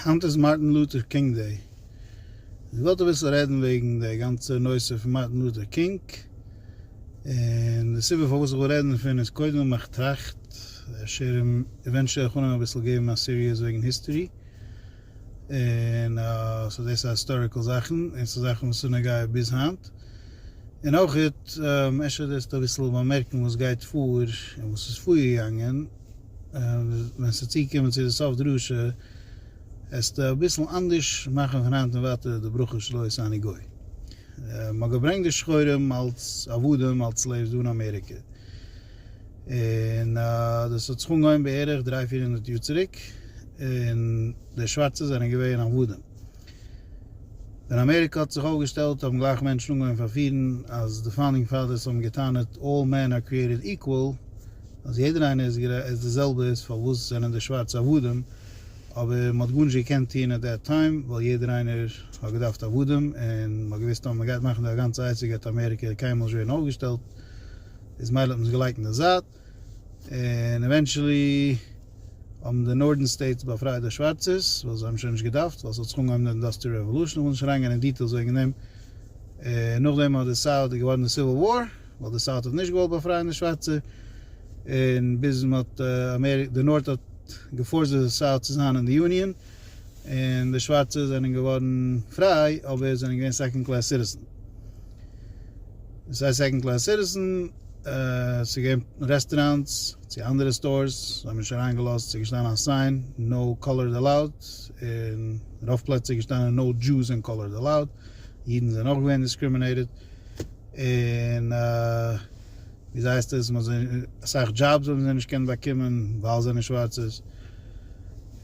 היינט איז מארטין לוטער קינג דעי. איך וואלט אביסל רעדן וועגן די גאנצע נושא פון מארטין לוטער קינג. און די סיבה פארוואס איך וויל רעדן דערפון איז קודם ווייל איך טראכט אפשר עווענטשועל וועל איך אנהייבן אביסל געבן א סיריעס וועגן היסטערי. און סאו דאס איז היסטאריקעל זאכן און ס'איז זאכן וואס איז נוגע ביז היינט. און אויך אפשר וועסטו אביסל באמערקן וואס גייט פאר און וואס איז פארגעגאנגען. ווען ס'איז צוגעקומען צו די סוף דרשה, העסטו אביסל אנדערש מאכן פון היינט און ווייטער די ברכה של הוי שאני גוי. מען האט געברענגט די שחורים אלס עבדים, אלס סלעיווס דא אין אמעריקע, און דאס האט זיך אנגעהויבן בערך דריי-פיר הונדערט יאר צוריק, און די שווארצע זענען געווען עבדים. ווען אמעריקע האט זיך אויפגעשטעלט האבן גלייך מענטשן אנגעהויבן פארפירן אז די פאונדינג פאדערס האבן געטענה'ט אלל מען אר קריעטעד איקוועל אז יעדער איינער איז די זעלבע איז פארוואס זענען די שווארצע עבדים אבער מען האט גארנישט געקענט טוהן עט דעט טיים ווייל יעדער איינער האט געדארפט עבדים און מען האט געוויסט אז מען גייט מאכן די אגאנצע עצה גייט אמעריקע קיינמאל נישט ווערן אויפגעשטעלט איז מילא האט מען עס געלייגט אין די זייט. און עווענטשעלי האבן די נארדערן סטעיטס באפרייט די שווארצערס ווייל זיי האבן שוין נישט געדארפט ווייל ס'האט זיך אנגעהויבן די אינדאסטריעל רעוואלושען, כ'וועל נישט אריינגיין אין דיטעילס וועגן דעם, און נאכדעם האט די סאוט איז געווארן די סיוויל וואר ווייל די סאוט האט נישט געוואלט באפרייען די שווארצע און ביז מ'האט די נארט האט געפארסט די סאוט צו זיין אין די יוניאן. און די שווארצע זענען געווארן פריי אבער זענען געווען סעקאנד קלעס סיטיזען. סיי סעקאנד קלעס סיטיזען, ס'איז געווען רעסטעראנטס צו אנדערע סטארס, זיי האבן נישט אריין געלאזט, ס'איז געשטאנען א סיין נאו קאלערד עלאוד, און רוב פלעצער איז געשטאנען נאו דזשאוס און קאלערד עלאוד, אידן זענען אויך געווען דיסקרימינעיטעד, און. ווי אזוי הייסט עס מ'האט זיי אסאך דזשאבס האבן זיי נישט קענען באקומען ווייל זיי זענען שווארצעס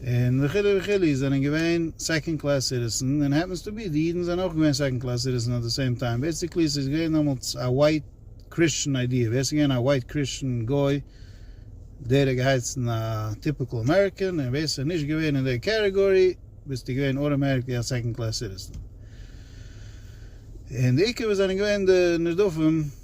און וכו' וכו' זענען געווען סעקאנד קלעס סיטיזען און העפענס טו בי די אידן זענען אויך געווען סעקאנד קלעס סיטיזען אט די סעים טיים בעסיקלי ס'איז געווען דעמאלטס א ווייט קריסטשען איידיע ווער ס'איז געווען א ווייט קריסטשען גוי דער האט געהייסן א טיפיקעל אמעריקען און ווער ס'איז נישט געווען אין דער קעטעגארי ביסטו געווען אוטאמעטיקלי א סעקאנד קלעס סיטיזען און די עיקר וואס זענען געווען די נרדפים.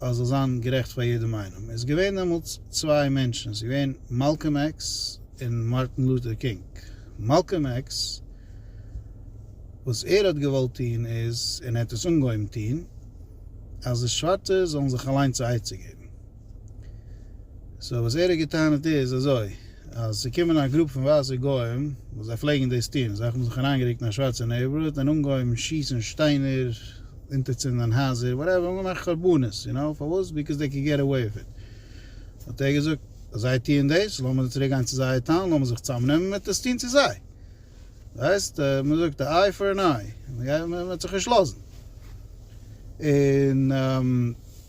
אז זאל זיין גערעכט פאר יעדעם איינעם איז געווען דעמאלטס צוויי מענטשן ס'איז געווען מאלקאם עקס און מארטין לוטער קינג מאלקאם עקס וואס ער האט געוואלט טוהן איז און ער האט עס אנגעהויבן טוהן אז די שווארצע זאלן זיך אליינס א עצה געבן סאו וואס ער האט געטענה'ט איז אזוי. אז ס'קומען א גרופ פון ווייסע גוים וואס זיי פלעגן דאס טון, זיי האבן זיך אריינגערוקט אין א שווארצע נעיבארהוד און אנגעהויבן שיסן שטיינער, אונטערצינדען הייזער, וואטעווער, האבן געמאכט חרבנות, יו נאו, פארוואס? ביקאוז דעי קען געט אוועי וויט איט. האט ער געזאגט, אז זיי טוען דאס, לאמיר זיי צוריק גיין צו זייער טאון, לאמיר זיך צוזאמנעמען, מען וועט עס טון צו זיי. ווייסט, מען זאגט א איי פאר ען איי, מען וועט זיך נישט לאזן. און.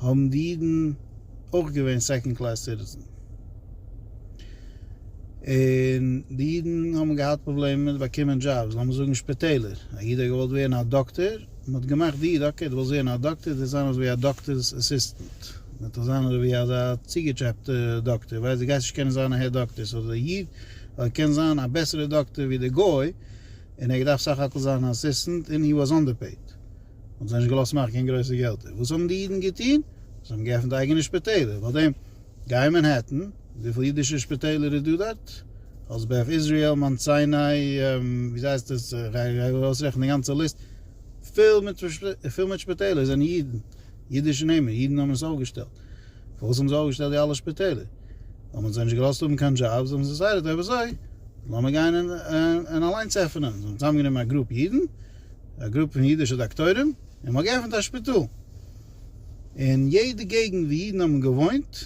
האבן די אידן אויך געווען סעקאנד קלעס סיטיזען, און די אידן האבן געהאט פראבלעמען מיט באקומען דזשאבס, לאמיר זאגן שפיטעלער, א איד האט געוואלט ווערן א דאקטאר, מען האט געמאכט די איד, אקעי דו ווילסט ווערן א דאקטאר, דו וועסט זיין אזויווי א דאקטאר'ס אסיסטענט, דו וועסט זיין אזויווי אזא צוגעטשעפטע דאקטאר, ווייל דו גייסט נישט קענען זיין אהער דאקטאר, סאו די איד האט געקענט זיין א בעסערע דאקטאר ווי די גוי, און ער האט געדארפט סך הכל זיין אן אסיסטענט, און הי וואס אנדערפעיד. האבן זיי נישט געלאזט מאכן קיין גרויסע געלטער. וואס האבן די אידן געטון? זיי האבן געעפנט אייגענע שפיטעלער. פאר דעם גיי אין מאנהעטן, וויפיל אידישע שפיטעלער איז דא דארט? אלס בערך איזריעל, מאונט סיני, ווי הייסט עס, גיי ארויסרעכענען די גאנצע ליסט, פול מיט פול מיט שפיטעלער זענען אידן, אידישע נעמען, אידן האבן עס אויפגעשטעלט. פארוואס האבן זיי אויפגעשטעלט די אלע שפיטעלער? האבן זיי נישט געלאזט האבן קיין דזשאבס, האבן זיי דעסיידעט אויב אזוי לאמיר גיין און אליינס עפענען. זיי האבן צוזאמגענומען א גרופ אידן. א גרופע פון אידישע דאקטוירים און מ'האט געעפנט א שפיטאל. אין יעדע געגנט ווי אידן האבן געוואוינט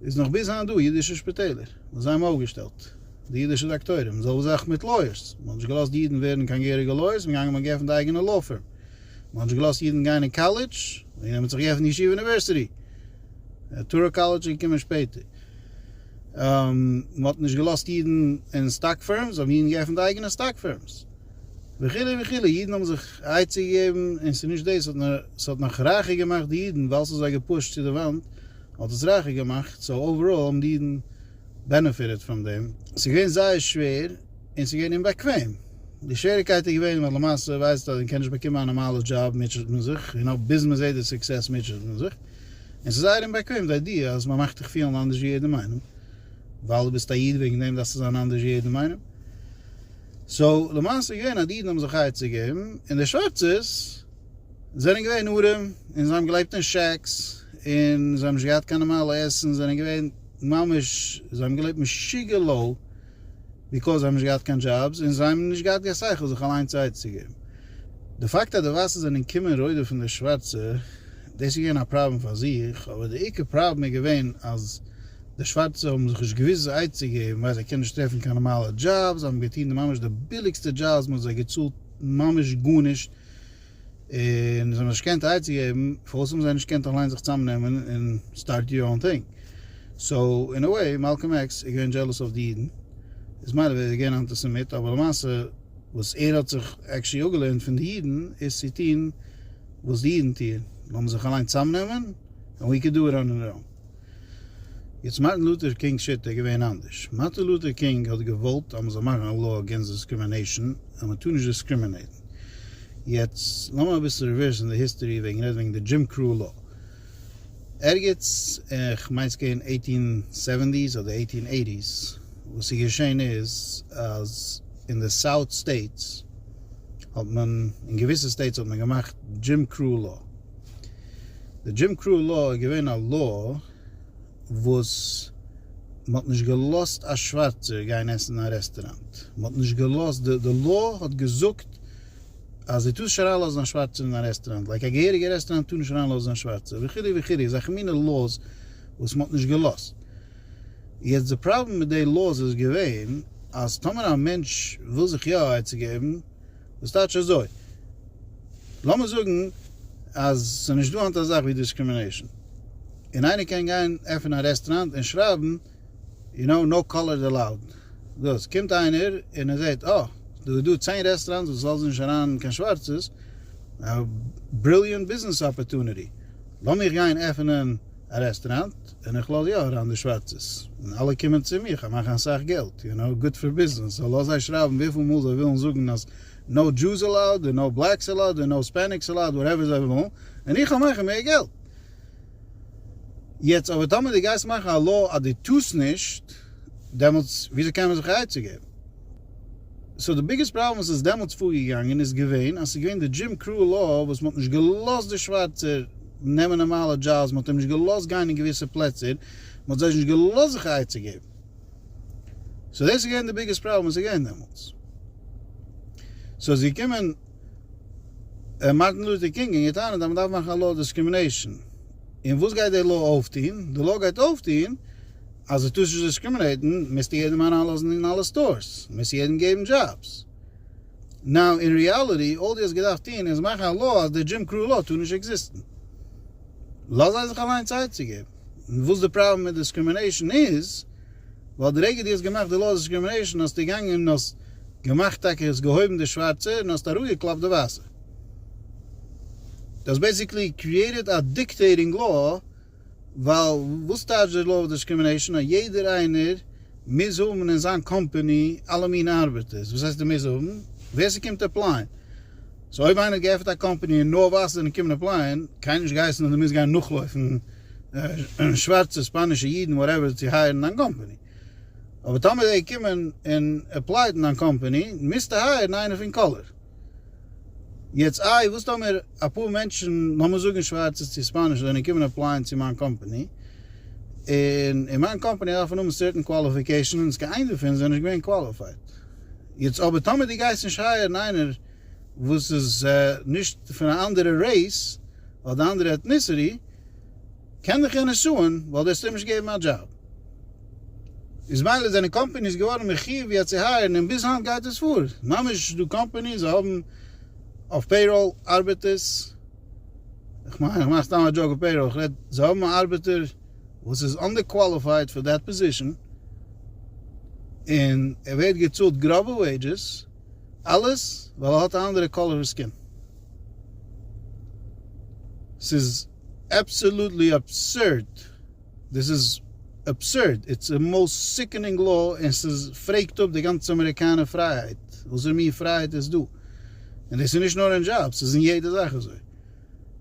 איז נאך ביז היינט דא אידישע שפיטעלער וואס זיי האבן אויפגעשטעלט די אידישע דאקטוירים. די זעלבע זאך מיט לויערס. מ'האט נישט געלאזט אידן ווערן קיין געהעריגע לויערס, מ'איז געגאנגען מ'האט געעפנט א אייגענע לאו פירם. מ'האט נישט געלאזט אידן גיין אין קאלעדזש, און מ'האט זיך געעפנט ישיבה אוניווערסיטי. טארא קאלעדזש איז געקומען שפעטער. מ'האט נישט געלאזט אידן אין סטאק פירמס, האבן אידן געעפנט אייגענע סטאק פירמס. וכו' וכו', אידן האבן זיך א עצה געגעבן, און ס'איז נישט דאס, ס'האט נאך רייכער געמאכט די אידן, ווייל ס'האט זיי געפושט צו די וואנט, האט עס רייכער געמאכט, סאו אוועראל האבן די אידן בענעפיטעד פון דעם, ס'איז געווען זייער שווער, און ס'איז געווען אומבאקוועם, די שוועריקייט איז געווען ווייל למעשה ווייסט אז מען קען נישט באקומען א נארמאלע דזשאב מוטשעט מען זיך, און אויב ביז מען זעט די סוקסעס מוטשעט מען זיך, און ס'איז זייער אומבאקוועם די איידיע אז מען מאכט דיך פילן אנדערש ווי יעדעם איינעם, ווייל דו ביסט א איד וועגן דעם דארפסטו זיין אנדערש ווי יעדעם איינעם. סאו למעשה איז געווען אז די אידן האבן זיך חי צו געבן, און די שווארצעס זענען געווען ארעם, און זיי האבן געלעבט אין שעקס, און זיי האבן נישט געהאט קיין נארמאלע עסן, זיי זענען געווען ממש, זיי האבן געלעבט משוגע לאו, ביקאוז זיי האבן נישט געהאט קיין דזשאבס, און זיי האבן נישט געהאט קיין שכל זיך אליינס א עצה געבן. די פאקט אז די ווייסע זענען געקומען רודפ'ן די שווארצע. דאס איז געווען א פראבלעם פאר זיך, אבער די עיקר פראבלעם איז געווען אז די שווארצע האבן זיך נישט געוואוסט זיי עצה צו געבן ווייל זיי קענען נישט טרעפן קיין נארמאלע דזשאבס, זיי האבן געטון די ממש די ביליגסטע דזשאבס, מען האט זיי געצאלט ממש גארנישט, און זיי האבן זיך נישט געקענט עצה געבן, פארוואס האבן זיי נישט געקענט אליין זיך צוזאמנעמען און סטארט יור אן טינג? סאו אין א וועי מאלקאם עקס איז געווען דזשעלעס אויף די אידן, איז מילא ווער ער איז געווען א אנטיסעמיט, אבער למעשה וואס ער האט זיך עקשעלי אפגעלערנט פון די אידן איז צו טון, וואס די אידן טוען, לאמיר זיך אליין צאמנעמען, ענד ווי קען דא ראן ענד ראן. יעצט מארטין לוטער קינג שיטה איז געווען אנדערש, מארטין לוטער קינג האט געוואלט אז מען זאל מאכן א לאו אגענסט דיסקרימינעישן, אז מען טאר נישט דיסקרימינעיטן. יעצט לאמיר אביסל ריווערסן די היסטארי וועגן רעדן וועגן די דזשים קראו לאו. ערגעץ אין כ'מיין ס'איז געווען עיטין סעווענטיס אדער עיטין עיטיס, וואס איז געשען איז אז אין די סאוט סטעיטס, האט מען אין געוויסע סטעיטס האט מען געמאכט דזשים קראו לאו. די דזשים קראו לאו איז געווען א לאו וואס מען האט נישט געלאזט א שווארצער גיין עסן אין א רעסטוראנט. מען האט נישט געלאזט, די לאו האט געזאגט אז דו טארסט נישט אריינלאזן א שווארצער אין א רעסטוראנט, לייק א געהעריגע רעסטוראנט טאר נישט אריינלאזן א שווארצער וכו' וכו', אזעלכע מיני לאוס וואס מען האט נישט געלאזט. יעצט די פראבלעם מיט די לאוס איז געווען אז טאמער א מענטש וויל זיך יא א עצה געבן, דאס טייטש אזוי, לאמיר זאגן אז ס'איז נישט דא היינט א זאך ווי דיסקרימינעישאן, און איינער קען גיין עפענען א רעסטוראנט און שרייבן יו נאו נאו קאלערד עלאוד, דאס קומט איינער און ער זעהט אה דא איז דא צען רעסטוראנטס וואס לאזן נישט אריין קיין שווארצעס, א בריליענט ביזנעס אפערטוניטי, לאמיך גיין עפענען א רעסטוראנט. ווען איך לאז יא אריין די שווארצעס און אלע קומען צו מיך, איך מאך אסאך געלט, יו נאו, גוט פאר ביזנעס, סאו לאז זיי שרייבן וויפיל מאל זיי ווילן זאגן אז נאו דזשוז עלאוד און נאו בלעקס עלאוד און נאו ספעניקס עלאוד וואטעווער זיי ווילן, און איך האב מאכן מער געלט. יעצט אבער טאמער די גייסט מאכן א לאו אז די טוסט נישט, דעמאלטס וויאזוי קען מען זיך א עצה געבן? סאו די ביגעסט פראבלעם וואס איז דעמאלטס פארגעגאנגען איז געווען אז ס'איז געווען די דזשים קראו לאו וואס מ'האט נישט געלאזט די שווארצער נעמען נארמאלע דזשאבס מ'האט אים נישט געלאזט גיין אין געוויסע פלעצער מ'האט זיי נישט געלאזט זיך א עצה געבן סאו דאס איז געווען די ביגעסט פראבלעם וואס איז געווען דעמאלטס סאו איז געקומען מארטין לוטער קינג און געטענה'ט אז מ'דארף מאכן א לאו אויף דיסקרימינעישאן און וואס גייט די לאו אויפטוהן די לאו גייט אויפטוהן אז דו טוסט נישט דיסקרימינעיטן מוזטו יעדעם אריינלאזן אין אלע סטארס, מוזט יעדעם געבן דזשאבס. נאו אין ריעליטי אלל דו האסט געדארפט טון איז מאכן א לאו אז די דזשים קראו לאו טאר נישט עקזיסטן. לאז זיי זיך אליין צייט צו געבן. און וואס די פראבלעם מיט דיסקרימינעישן איז, ווייל די רגע דו האסט געמאכט די לאו אז דיסקרימינעישן האסטו געגאנגען און האסט געמאכט טאקע האסט געהויבן די שווארצע און האסט אראפגעקלאפט די ווייסע. דו האסט בעסיקלי קריעיטעד א דיקטעיטינג לאו. ווייל וואס טייטש די לאו אוו דיסקרימינעישאן אז יעדער איינער מוז האבן אין זיין קאמפעני אלע מינע ארבעטערס? וואס הייסט ער מוז האבן? ווער ס'קומט עפלייען? סאו אויב איינער האט געעפענט א קאמפעני און נאר ווייסע זענען קומען עפלייען, קיינער נישט געהייסן אז דו מוזט גיין נאכלויפן שווארצע, ספאנישע, אידן, וואטעווער צו הייערן דיין קאמפעני. אבער טאמער זיי קומען און עפלייט אין דיין קאמפעני, מוזטו הייערן איינער פון קאלער. יעצט איי וואס טאמער אפאר מענטשן לאמיר זאגן שווארצע צו היספאנישע זענען געקומען אפלייען צו מיין קאמפאני און אין מיין קאמפאני דארף מען האבן סערטען קוואליפיקעישאנס קיין איין דערפון זענען נישט געווען קוואליפייד יעצט אבער טאמער די גייסט נישט הייערן איינער וואס איז נישט פון א אנדערע רעיס אדער אנדערע עטניסיטי. קען דיך יענער סוען ווייל דו האסט אים נישט געגעבן א דזשאב. איז מילא זענען קאמפעניס געווארן מחיוב יעצט צו הייערן און ביז היינט גייט עס פאר. ממש דא קאמפעניס זיי האבן אויף פעיראל ארבעטערס, כ'מיין איך מאך סתם א דזשאוק אויף פעיראל, כ'רעד זיי האבן א ארבעטער וואס איז אנדער קוואליפייד פאר דעט פאזישאן און ער ווערט געצאלט גראבע וועידזשעס אלעס ווייל ער האט א אנדערע קאלער סקין. ס'איז. אבסעלוטלי אבסורד! דאס איז אבסורד! איטס א מאוסט סיקענינג לאו און ס'איז פרעגט אפ די גאנצע אמעריקאנער פרייהייט! וואסערע מין פרייהייט איז דא? און דאס איז נישט נאר אין דזשאבס ס'איז אין יעדע זאך אזוי!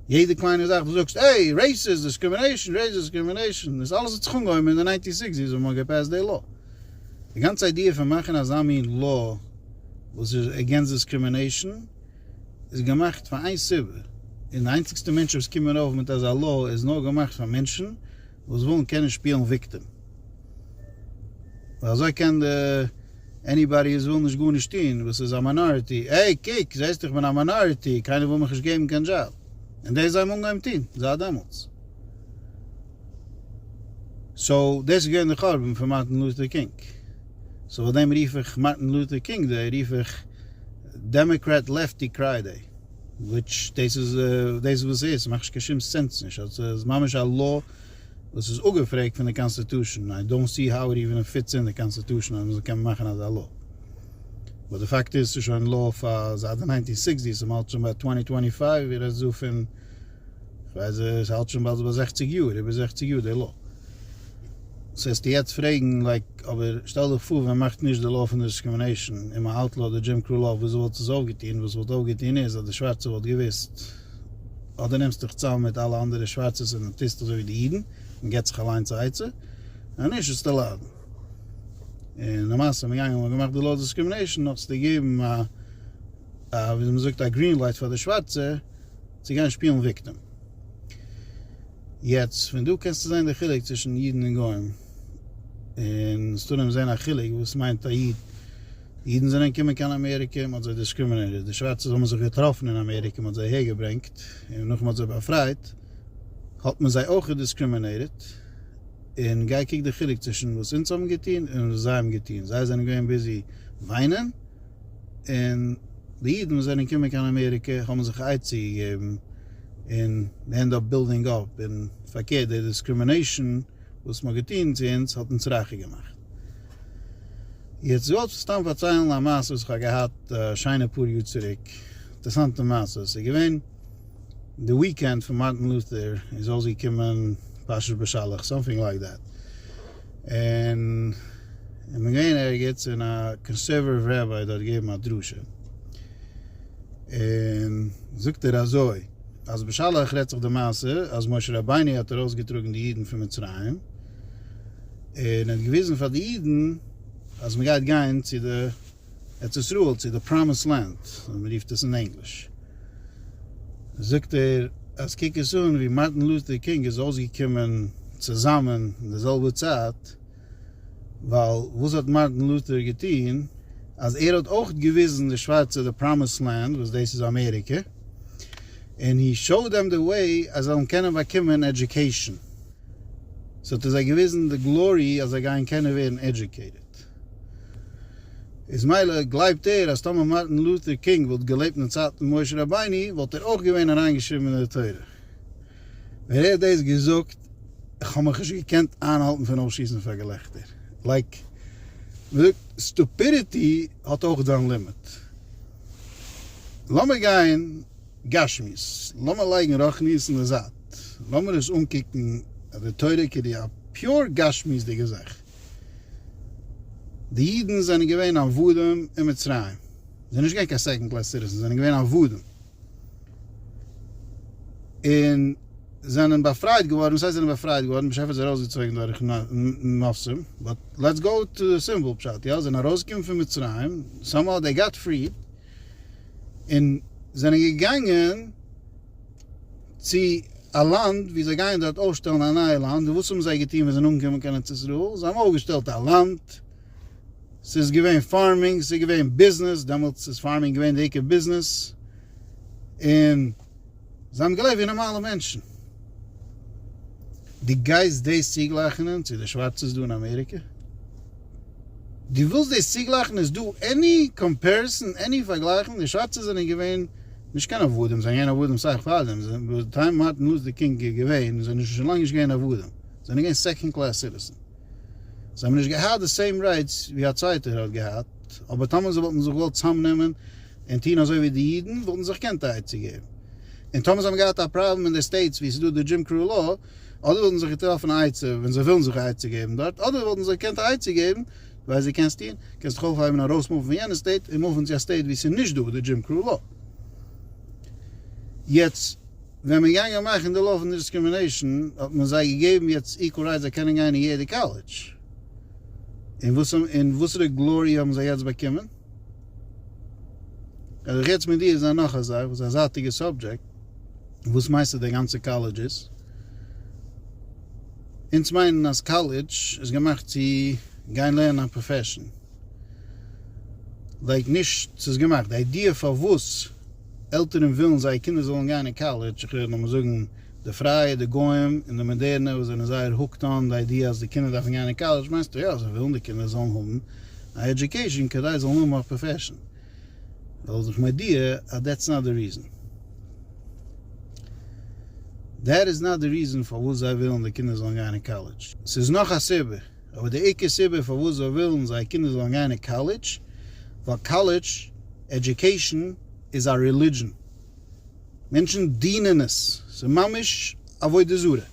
יעדע קליינע זאך דו זאגסט עי! רעיסעס דיסקרימינעישן! רעיסעס דיסקרימינעישן! דאס אלעס האט זיך אנגעהויבן אין די ניינטי סיקס יערס ווען מ'האט געפעסט די לאו! די גאנצע איידיע פון מאכן אזא מין לאו וואס איז עגענסט דיסקרימינעישן! איז געמאכט פאר איין סיבה, און די איינציגסטע מענטשן וואס קומען אויף מיט אזא לאו איז נאר געמאכט פאר מענטשן וואס ווילן קענען שפילן וויקטים, ווייל אזוי קען די עניבאדי וואס וויל נישט גארנישט טון וואס איז א מיינאריטי, עי קוק זעסט איך בין א מיינאריטי קיינער וויל מיך נישט געבן קיין דזשאב, און דאס זיי האבן אנגעהויבן טון זייט דעמאלטס. סאו דאס איז געווען די חורבן פון מארטין לוטער קינג. סאו פאר דעם רוף איך מארטין לוטער קינג דעי רוף איך דעמעקרעט לעפטי קריי דעי וויטש דאס איז דאס וואס ס'איז ס'מאכט נישט קיין שום סענס נישט אז ס'איז ממש א law וואס איז אפגעפרעגט פון די קאנסטיטושען איי דאונט סי האו איט איווען פיטס אין די קאנסטיטושען אז מ'זאל קענען מאכן אזא law באט די פאקט איז ס'איז שוין law פאר זייט די ניינטין סיקסטיס און מ'האלט שוין ביי טווענטי טווענטי פייוו איר רעדט דא פון כ'ווייס זי האלט שוין באלד ביי זעכציג יאר, איבער זעכציג יאר די לאו. סאו העסטו יעצט פרעגן לייק אבער שטעל דיך פאר ווען מ'מאכט נישט די לאו פון דיסקרימינעישן און מ'אוטלאוד די דזשים קראו לאו וויאזוי וואלט עס אויפגעטון? וואס ס'וואלט אויפגעטון איז אז די שווארצע וואלט געוואוסט אז דו נעמסט דיך צאם מיט אלע אנדערע שווארצעס און טוסט אזוי ווי די אידן און געבסט זיך אליינס א עצה אז נישט וועסטו ליידן. און למעשה איז מען געגאנגען און מ'האט געמאכט די לאו דיסקרימינעישן נאכ'ס געגעבן א א וויאזוי מ'זאגט א גרין לייט פאר די שווארצע. צו גיין שפילן וויקטעם. יעצט פון דא קענסטו זען די חילוק צווישן אידן און גוים, און סטאנעם זען א חילוק וואס מיינט א איד, אידן זענען געקומען קיין אמעריקע, מען האט זיי דיסקרימינעיטעד, די שווארצע האבן זיך געטראפן אין אמעריקע, מען האט זיי אהער געברענגט, און נאך מען האט זיי באפרייט האט מען זיי אויך דיסקרימינעיטעד, און גיי קוק די חילוק צווישן וואס אונז האבן געטון און וואס זיי האבן געטון, זיי זענען געווען ביזי וויינען, און די אידן וואס זענען געקומען קיין אמעריקע האבן זיך א עצה געגעבן און מען ענד אפ בילדינג אפ און פארקערט די דיסקרימינעישאן וואס מען האט געטון צו אונז האט אונז רייכער געמאכט. יעצט געוואלט סתם פארציילן א מעשה וואס כ'האב געהאט א שיינע פאר יאר צוריק, אינטערסאנטע מעשה, ס'איז געווען די וויקענד פון מארטין לוטער איז אויסגעקומען פרשת בשלח סאמטינג לייק דעט, און איך בין געווען ערגעץ און א קאנסערוועטיוו רבי דארט געבן א דרשה, און זאגט ער אזוי, אז בשלח רעדט זיך די מעשה אז משה רבינו האט ארויסגעטראגן די אידן פון מצרים, און ער האט געוויזן פאר די אידן אז מען גייט גיין צו די. ארץ ישראל צו די פראמיסד לענד ווי מען רופט עס אין ענגליש, זאגט ער אז קוק עס אן ווי מארטין לוטער קינג איז אויסגעקומען צוזאמען אין די זעלבע צייט, ווייל וואס האט מארטין לוטער געטון אז ער האט אויך געוויזן די שווארצע די פראמיסד לענד וואס דאס איז אמעריקע, און הי שאו דעם די וועי אז זיי זאלן קענען באקומען עדיוקעישאן, סאו האט ער זיי געוויזן די גלארי אז זיי גייען קענען ווערן עדיוקעיטעד. איז מילא גלייבט ער אז טאמער מארטין לוטער קינג וואלט געלעבט אין די צייט פון משה רבינו וואלט ער אויך געווען אריינגעשריבן אין די תורה. ווען ער האט דאס געזאגט איך האב מיך נישט געקענט איינהאלטן פון אויסשיסן פאר געלעכטער. לייק מען זאגט סטופידיטי האט אויך זיין לימיט. לאמיר גיין גשמיות, לאמיר לייגן רוחניות אין די זייט, לאמיר עס אנקוקן די תורה כדי א פיור גשמיות'דיגע זאך. די אידן זענען געווען עבדים אין מצרים, זענען נישט געווען קיין סעקאנד קלעס סיטיזענס, זענען געווען עבדים, און זענען באפרייט געווארן, וואס הייסט זענען באפרייט געווארן, באשעפער האט זיי ארויסגעצויגן דורך נסים, באט לעטס גאו טו די סימפל פשט, יא, זענען ארויסגעקומען פון מצרים, סאמהאו דעי גאט פריד, און זענען געגאנגען, צו א לאנד ווי זיי גייען דארט אויפשטעלן א נייע לאנד, און וואס האבן זיי געטון ווען זיי זענען אנגעקומען קיין ארץ ישראל? זיי האבן אויפגעשטעלט א לאנד, ס'איז געווען פארמינג, ס'איז געווען ביזנעס, דעמאלטס איז פארמינג געווען די עיקר ביזנעס, און זיי האבן געלעבט ווי נארמאלע מענטשן. דו גייסט דאס צוגלייכענען צו די שווארצעס דא אין אמעריקע? דו ווילסט דאס צוגלייכענען? איז דא עני קאמפעריסאן, עני פארגלייכונג? די שווארצע זענען געווען נישט קיין עבדים, זיי זענען געווען עבדים סאך פאר דעם, ביי די טיים מארטין לוזדער קינג איז געווען איז זענען שוין לאנג נישט געווען עבדים, זיי זענען געווען סעקאנד קלעס סיטיזען, זיי האבן נישט געהאט די סעים רייטס ווי א צווייטער האט געהאט, אבער טאמער זיי וואלטן זיך געוואלט צוזאמנעמען און טוהן אזוי ווי די אידן וואלטן זיי זיך געקענט א עצה געבן, און טאמער זיי האבן געהאט א פראבלעם אין די סטעיטס ווי עס איז דא די דזשים קראו לאו, אדער וואלטן זיי זיך געטראפן א עצה ווען זיי ווילן זיך א עצה געבן דארט, אדער וואלטן זיי געקענט א עצה געבן, ווייסט ווי קענסט טון? קענסט זיך אויפהייבן ארויס מופן פון יענע סטעיט און מופן צו א סטעיט ווי ס'איז נישט דא די דזשים קראו לאו. יעצט ווען מען געאנגען מאכן די לאו פון דיסקרימינעישן האט מען זיי געגעבן יעצט איקוועל רייטס זיי קענען גיין אין יעדע קאלעדזש. און וואס און וואסערע גלארי האבן זיי יעצט באקומען? וועל איך יעצט מיט דיר זיין נאך א זאך וואס איז א זייטיגע סאבדזשעקט, וואס מיינסטו די גאנצע קאלעדזש איז? אונז מיינען אז קאלעדזש איז געמאכט צו גיין לערנען א פראפעשן. לייג נישט צו איז געמאכט. די איידיע פארוואס עלטערן ווילן זייער קינדער זאלן גיין אין קאלעדזש, איך רעד לאמיר זאגן די פרייע, די גוים, און די מאדערנע וואס זענען זייער הוקט אן די איידיע אז די קינדער דארפן גיין אין קאלעדזש, מיינסטו יא זיי ווילן די קינדער זאלן האבן א עדיוקעישן כדי זיי זאלן האבן א פראפעשן. זאל זיך מודיע אז דעטס נאט די ריזען. דעט איז נאט די ריזען פארוואס זיי ווילן די קינדער זאלן גיין אין קאלעדזש. ס'איז נאך א סיבה, אבער די עיקר סיבה פארוואס זיי ווילן זייער קינדער זאלן גיין אין קאלעדזש, ווייל קאלעדזש עדיוקעישן איז א רעלידזשען. מענטשן דינען עס. ס'איז ממש עבודה זרה.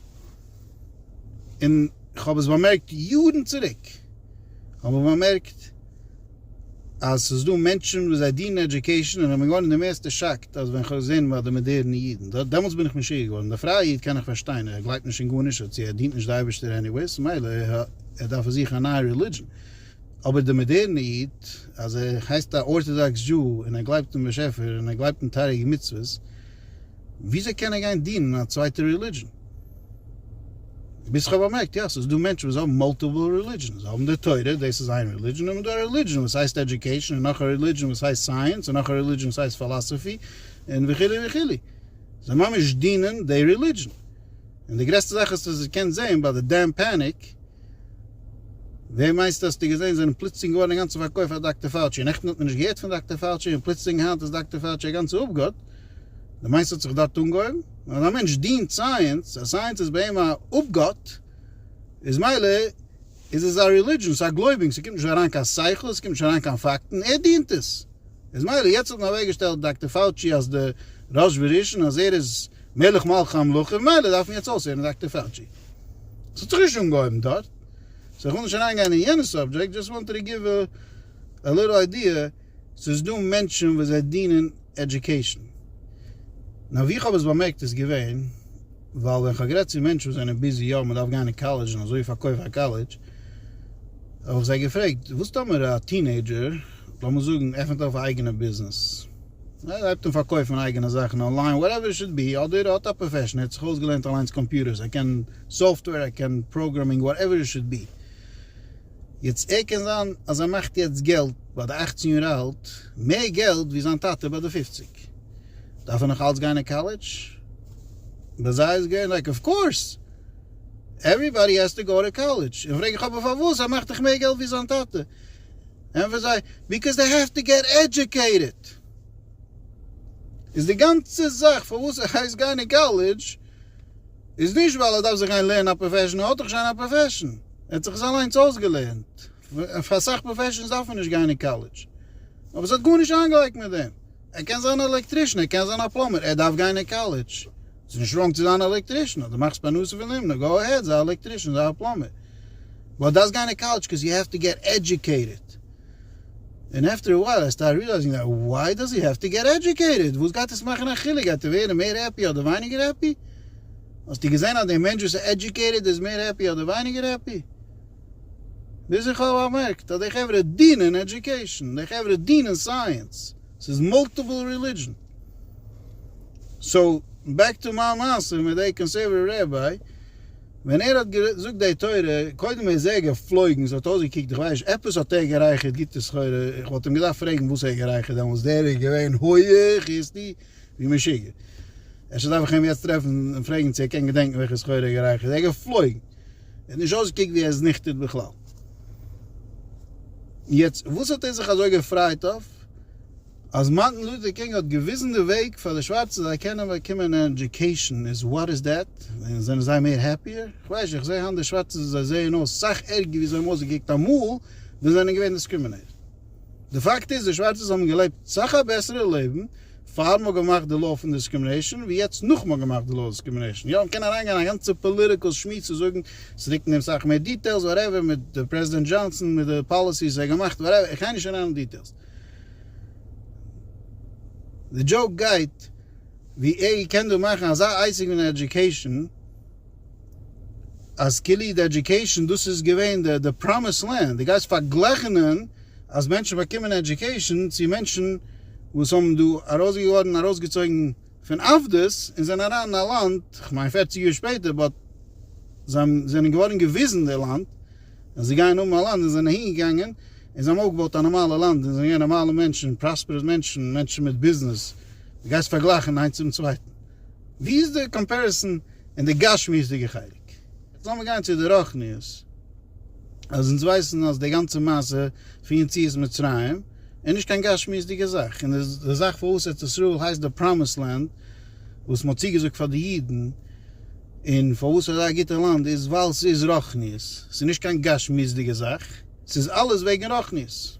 און כ'האב עס באמערקט יארן צוריק. כ'האב באמערקט. אז ס'איז דא מענטשן וואס זיי דינען עדיוקעישאן און איך בין געווארן די מערסטע שאקט אז ווען כ'האב געזען ביי די מאדערנע אידן דעמאלטס בין איך משוגע געווארן די פרייע איד קען איך פארשטיין ער גלייבט נישט אין גארנישט און צו ער דינט נישט די אייבערשטער עניוועיס מילא ער דארף זיכן א נייע רעלידשען אבער די מאדערנע איד אז ער הייסט א ארטאדאקס דזשו און ער גלייבט אין באשעפער און ער גלייבט אין תריג מצוות וויאזוי קען ער גיין דינען א צווייטע רעלידזשען? ביז כ'האב באמערקט, יא, ס'איז דא מענטשן וואס האבן מאלטיפעל רעלידזשענס. זיי האבן די תורה, דאס איז איין רעלידזשען, און דא א רעלידזשען וואס הייסט עדיוקעישאן, און נאך א רעלידזשען וואס הייסט סייענס, און נאך א רעלידזשען וואס הייסט פילאסאפי, און וכו' וכו'. זיי ממש דינען די רעלידזשען. און די גרעסטע זאך האסטו עס געקענט זעהן ביי די דעם פעניק, וועם מיינסטו האסטו געזעהן זענען פלוצלינג געווארן אינגאנצן פארקויפט פאר דאקטער פאוטשי, נעכטן האט מען נישט געהערט פון דאקטער פאוטשי און פלוצלינג היינט איז דאקטער פאוטשי א גאנצער אפגאט, די מיינסט ס'האט זיך דארט אנגעהויבן? אז א מענטש דינט סייענס, אז סייענס איז ביי אים א אפגאט, איז מילא איז עס א רילידזשען, ס'איז א גלויבונג, ס'קומט נישט אריין קיין שכל, ס'קומט נישט אריין קיין פאקטן, ער דינט עס, איז מילא יעצט האט מען אוועקגעשטעלט דאקטער פאוטשי אלס די ראש וראשון אז ער איז. מלך מלכי המלכים, מילא דארף מען יעצט אויסהערן דאקטער פאוטשי. ס'האט זיך נישט אנגעהויבן דארט, סאו כ'וויל נישט אריינגיין אין יענע סאבדזשעקט, דזשאסט וואנט טו גיוו א ליטל איידיע, ס'איז דא מענטשן וואס זיי דינען עדיוקעישן. נאר ווי כ'האב עס באמערקט איז געווען, ווייל ווען כ'האב גערעדט צו מענטשן וואס זענען ביזי יא מ'דארף גיין אין קאלעדזש און אזוי פארקויף א קאלעדזש, האב איך זיי געפרעגט, וואס טאמער א טינעידזשער, לאמיר זאגן, עפנט אויף א אייגענע ביזנעס? אדער הייבט אן פארקויפן אייגענע זאכן אנליין וואטעווער איט שוד בי, אדער ער האט א פראפעשן, ער האט זיך אויסגעלערנט אליינס קאמפיוטערס, ער קען סאפטווער, ער קען פראגרעמינג וואטעווער איט שוד בי. יעצט ער קען זיין אז ער מאכט יעצט געלט ביי די אכצן יאר אלט, מער געלט ווי זיין טאטע ביי די פופציג. דארף ער נאך אלץ גיין אין קאלעדזש? ביי זיי איז געווען לייק אוו קאורס, עווריבאדי העז טו גאו טו קאלעדזש, און פרעג איך אבער פארוואס ער מאכט דאך מער געלט ווי זיין טאטע? ענטפערט זיי, ביקאוז זיי העוו טו געט עדיוקעיטעד. איז די גאנצע זאך פארוואס ער הייסט גיין אין קאלעדזש איז נישט ווייל ער דארף זיך גיין לערנען א פראפעשן, ער האט דאך שוין א פראפעשן, ער האט זיך עס אליינס אויסגעלערנט, פאר אסאך פראפעשנס דארף מען נישט גיין אין קאלעדזש, אבער עס האט גארנישט איינגעלייגט מיט דעם. ער קען זיין א עלעקטרישן, ער קען זיין א פלאמער, ער דארף גיין אין קאלעדזש. ס'איז נישט ראנג צו זיין א עלעקטרישן, אז דו מאכסט פרנסה פון דעם, נא גאו אהעד, זיי א עלעקטרישן, זיי א פלאמער. באט דארפסט גיין אין קאלעדזש קאוז יו העוו טו געט עדיוקעיטעד. און עפטער א ווייל ער סטארט ריעלייזינג דעט וואי דאז הי העוו טו געט עדיוקעיטעד? וואס גייט עס מאכן א חילוק? גייט ער ווערן מער העפי אדער ווייניגער העפי? האסטו געזען אז דער מענטש וואס איז עדיוקעיטעד איז מער העפי אדער ווייניגער העפי? ביז איך האב באמערקט אז די חברה דינען עדיוקעישאן, די חברה דינען סייענס, ס'איז מאלטיפעל רעלידזשען. סאו, בעק טו מיין מעשה מיט דעי קאנסערוואטיוו רעביי, ווען ער האט געזאגט דעי תורה, קודם איז ער געפלויגן, ס'האט אויסגעקוקט איך ווייס נישט, עפעס האט ער גערייכערט גוטע סחורה, איך וואלט אים געדארפט פרעגן וואס ער האט גערייכערט דעמאלטס, דער איז געווען הויעך היסטי ווי משוגע. אפשר דארף איך אים יעצט טרעפן און פרעגן צו ער קען געדענקן וועלכע סחורה ער האט גערייכערט, ער איז געפלויגן. ער נישט אויסגעקוקט ווי ער איז ניכטער בכלל. און יעצט וואס האט ער זיך אזוי געפרייט אויף אז מארטין לוטער קינג האט געוויזן די וועג פאר די שווארצע זיי קענען באקומען אן עדיוקעישן איז וואט איז דעט? זענען זיי מער העפיער? כ'ווייס נישט, איך זעה היינט די שווארצע זיי זעען אויס סאך ערגער ווי זיי האבן אויסגעקוקט אמאל ווען זיי זענען געווען דיסקרימינעיטעד. די פאקט איז די שווארצע האבן געלעבט סאך א בעסערע לעבן פאר מ'האט געמאכט די לאו פון דיסקרימינעישאן ווי יעצט נאך מ'האט געמאכט די לאו אויף דיסקרימינעישאן. יא מ'קען אריינגיין אין א גאנצע פאליטיקעל שמועס צו זאגן צו ריקן דעם סאך מער דיטעילס וואטעווער מיט די פרעזידענט דזשאנסאן מיט די פאליסיס ער געמאכט וואטעווער איך גיי נישט אריין אין דיטעילס די דזשאוק גייט ווי ער קען דא מאכן אזא אייסיג פון עדיוקעישאן. אז קיליעד עדיוקעישאן דאס איז געווען די פראמיס לענד, די גייסט פארגלעכענען אז מענטשן באקומען עדיוקעישאן צו מענטשן וואס האבן דא ארויסגעווארן ארויסגעצויגן פון עבדות און זענען אריין אין א לאנד כ'מיין פערציג יאר שפעטער באט זיי זענען געווארן געוויזן די לאנד אז זיי גייען האבן א לאנד און זענען אהינגעגאנגען און זיי האבן אויפגעבויט א נארמאלע לאנד און זענען געווען נארמאלע מענטשן פראספערעס מענטשן מענטשן מיט ביזנעס די גייסט פארגלייכן איינס צום צווייטן. ווי איז די קאמפעריסאן אין די גשמיות'דיגע חלק? לאמיר גיין צו די רוחניות, אז אונז ווייסן אז די גאנצע מעשה פון יציאת מצרים איז נישט קיין גשמיות'דיגע זאך, און די זאך פארוואס ארץ ישראל הייסט די פראמיסד לענד וואס מען האט צוגעזאגט פאר די אידן, און פארוואס ס'איז אזא גוטע לאנד איז ווייל ס'איז רוחניות, ס'איז נישט קיין גשמיות'דיגע זאך, ס'איז אלעס וועגן רוחניות,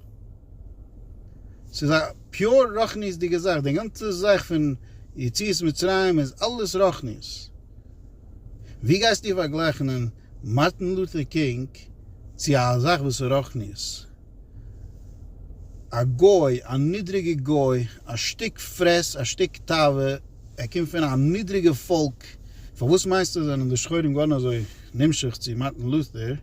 ס'איז א. פיור רוחניות'דיגע זאך, די גאנצע זאך פון יציאת מצרים איז אלעס רוחניות, ווי גייסטו פארגלייכענען מארטין לוטער קינג צו א זאך וואס איז רוחניות? א גוי, א נידריגע גוי, א שטיק פרעס, א שטיק תאווה, ער קומט פון א נידריגע פאלק, פארוואס מיינסטו זענען די שחורים געווארן אזוי נמשך צו מארטין לוטער?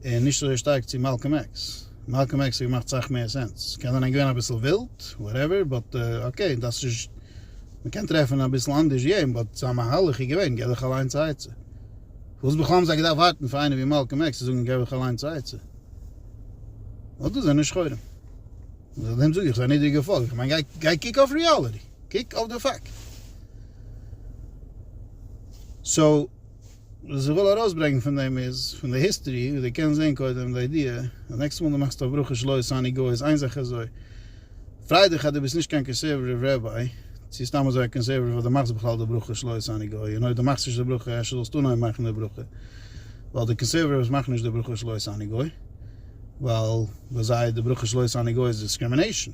און נישט אזוי שטארק צו מאלקאם עקס, מאלקאם עקס האט געמאכט סאך מער סענס, קען זיין ער איז געווען אביסל ווילד, וואטעווער, באט אקעי דאס איז, מ'קען טרעפן אביסל אנדערש יעדן, באט זיין מהלך איז געווען געב דיך אליינס א עצה, פארוואס בכלל האבן זיי געדארפט ווארטן פאר איינער ווי מאלקאם עקס צו זאגן געב דיך אליינס א עצה? ווייל דאס זענען שחורים, און דעם זאג איך ס'איז א נידריגע פאלק, איך מיין גיי גיי קוק אויף ריאליטי, קוק אויף די פאקט, סאו. וואס איך וויל ארויסברענגן פון דעם איז, פון די היסטערי, ווי דו קענסט זען קודם די איידיע, די נעקסטע מאל דו מאכסט אויף ברוך שלא עשני גוי איז איין זאך אזוי, פריי דיך אז דו ביסט נישט קיין קאנסערוואטיוו רעביי, צו סתם אזוי א קאנסערוואטיוו אז דו מאכסט בכלל די ברכה שלא עשני גוי, און אויב דו מאכסט נישט די ברכה אפשר זאלסטו אנהויבן מאכן די ברכה, ווייל די קאנסערוואטיווס מאכן נישט די ברכה שלא עשני גוי, ווייל ביי זיי די ברכה שלא עשני גוי איז דיסקרימינעישאן.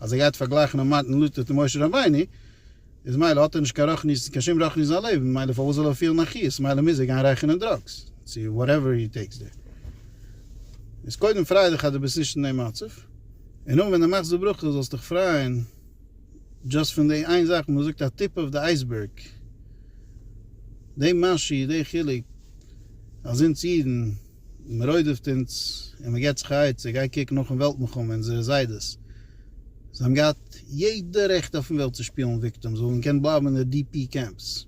אז ער גייט פארגלייכן א מתן לוטער צו משה רבינו, איז מילא האט ער נישט קיין רחניות, קיין שום רחניות אין זיין לעבן, מילא פארוואס זאל ער פילן א חיות, מילא מוז ער גיין רייכערן דראגס, צו וואטעווער הי טעיקס דער. איז קודם פריי דיך אז דו ביסט נישט אין דעם מצב, און נאכדעם ווען דו מאכסט די ברכה זאלסט דיך פרייען דשאסט פון די איין זאך, ווי מ'זאגט א טיפ אויף די אייסבערג, די משי, די חילוק אז אונז אידן, מען רוידעפט אונז און מען געבט זיך א עצה, גיי קוק נאכן וועלט מלחמה, אונזערע זיידעס, זיי האבן געהאט יעדע רעכט אויפן וועלט צו שפילן וויקטעם, זיי האבן געקענט בלייבן אין די די פי קעמפס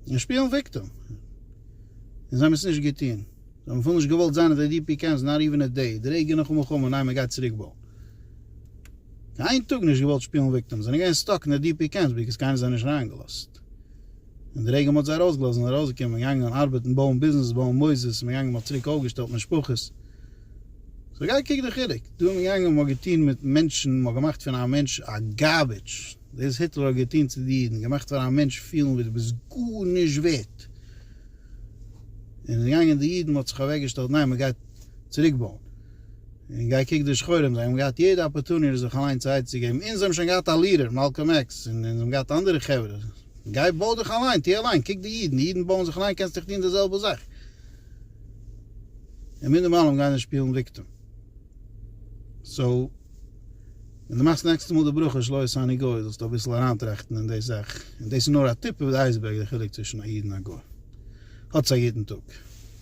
און שפילן וויקטעם, און זיי האבן עס נישט געטון, זיי האבן אפילו נישט געוואלט זיין אין די די פי קעמפס נאט איווען א דעי, די רגע נאכן מלחמה, ניין מען גייט צוריק בויען, קיין טאג נישט געוואלט שפילן וויקטעם, זענען געווען סטאק אין די די פי קעמפס, בגלל קיינער האט זיי נישט אריינגעלאזט, און די רגע מ'האט זיי ארויסגעלאזט זענען זיי ארויסגעקומען און געגאנגען ארבעטן בויען ביזנעס בויען מוסדות און געגאנגען מ'האט צוריק אויפגעשטעלט משפחות סאו גיי קוק די חילוק דא איז מען געגאנגען מ'האט געטון מיט מענטשן מ'האט געמאכט פון א מענטש א גארביטש דאס היטלער האט געטון צו די אידן געמאכט פאר א מענטש פילן ווי דו ביסט גארנישט ווערט און איז געגאנגען די אידן מ'האט זיך אוועקגעשטעלט ניין מ'גייט צוריק בויען און גיי קוק די שחורים זיי האבן געהאט יעדע אפערטוניטי זיך אליין צו עצה געבן און זיי האבן שוין געהאט א לידער מאלקאם עקס און זיי האבן געהאט אנדערע חברה. גיי בוי דיך אליין, טוה אליין, קוק די אידן, די אידן בויען זיך אליין קענסט דיך טוהן די זעלבע זאך. און מינדער מעלם גיי נישט שפילן וויקטעם. סאו ווען דו מאכסט נעקסטע מאל די ברכה שלא עשה אני גוי זאלסטו אביסל אריינטראכטן אין די זאך, און דאס איז נאר א טיפ אויף די אייזבערג די חילוק צווישן א איד און א גוי. האטס א גוטן טאג.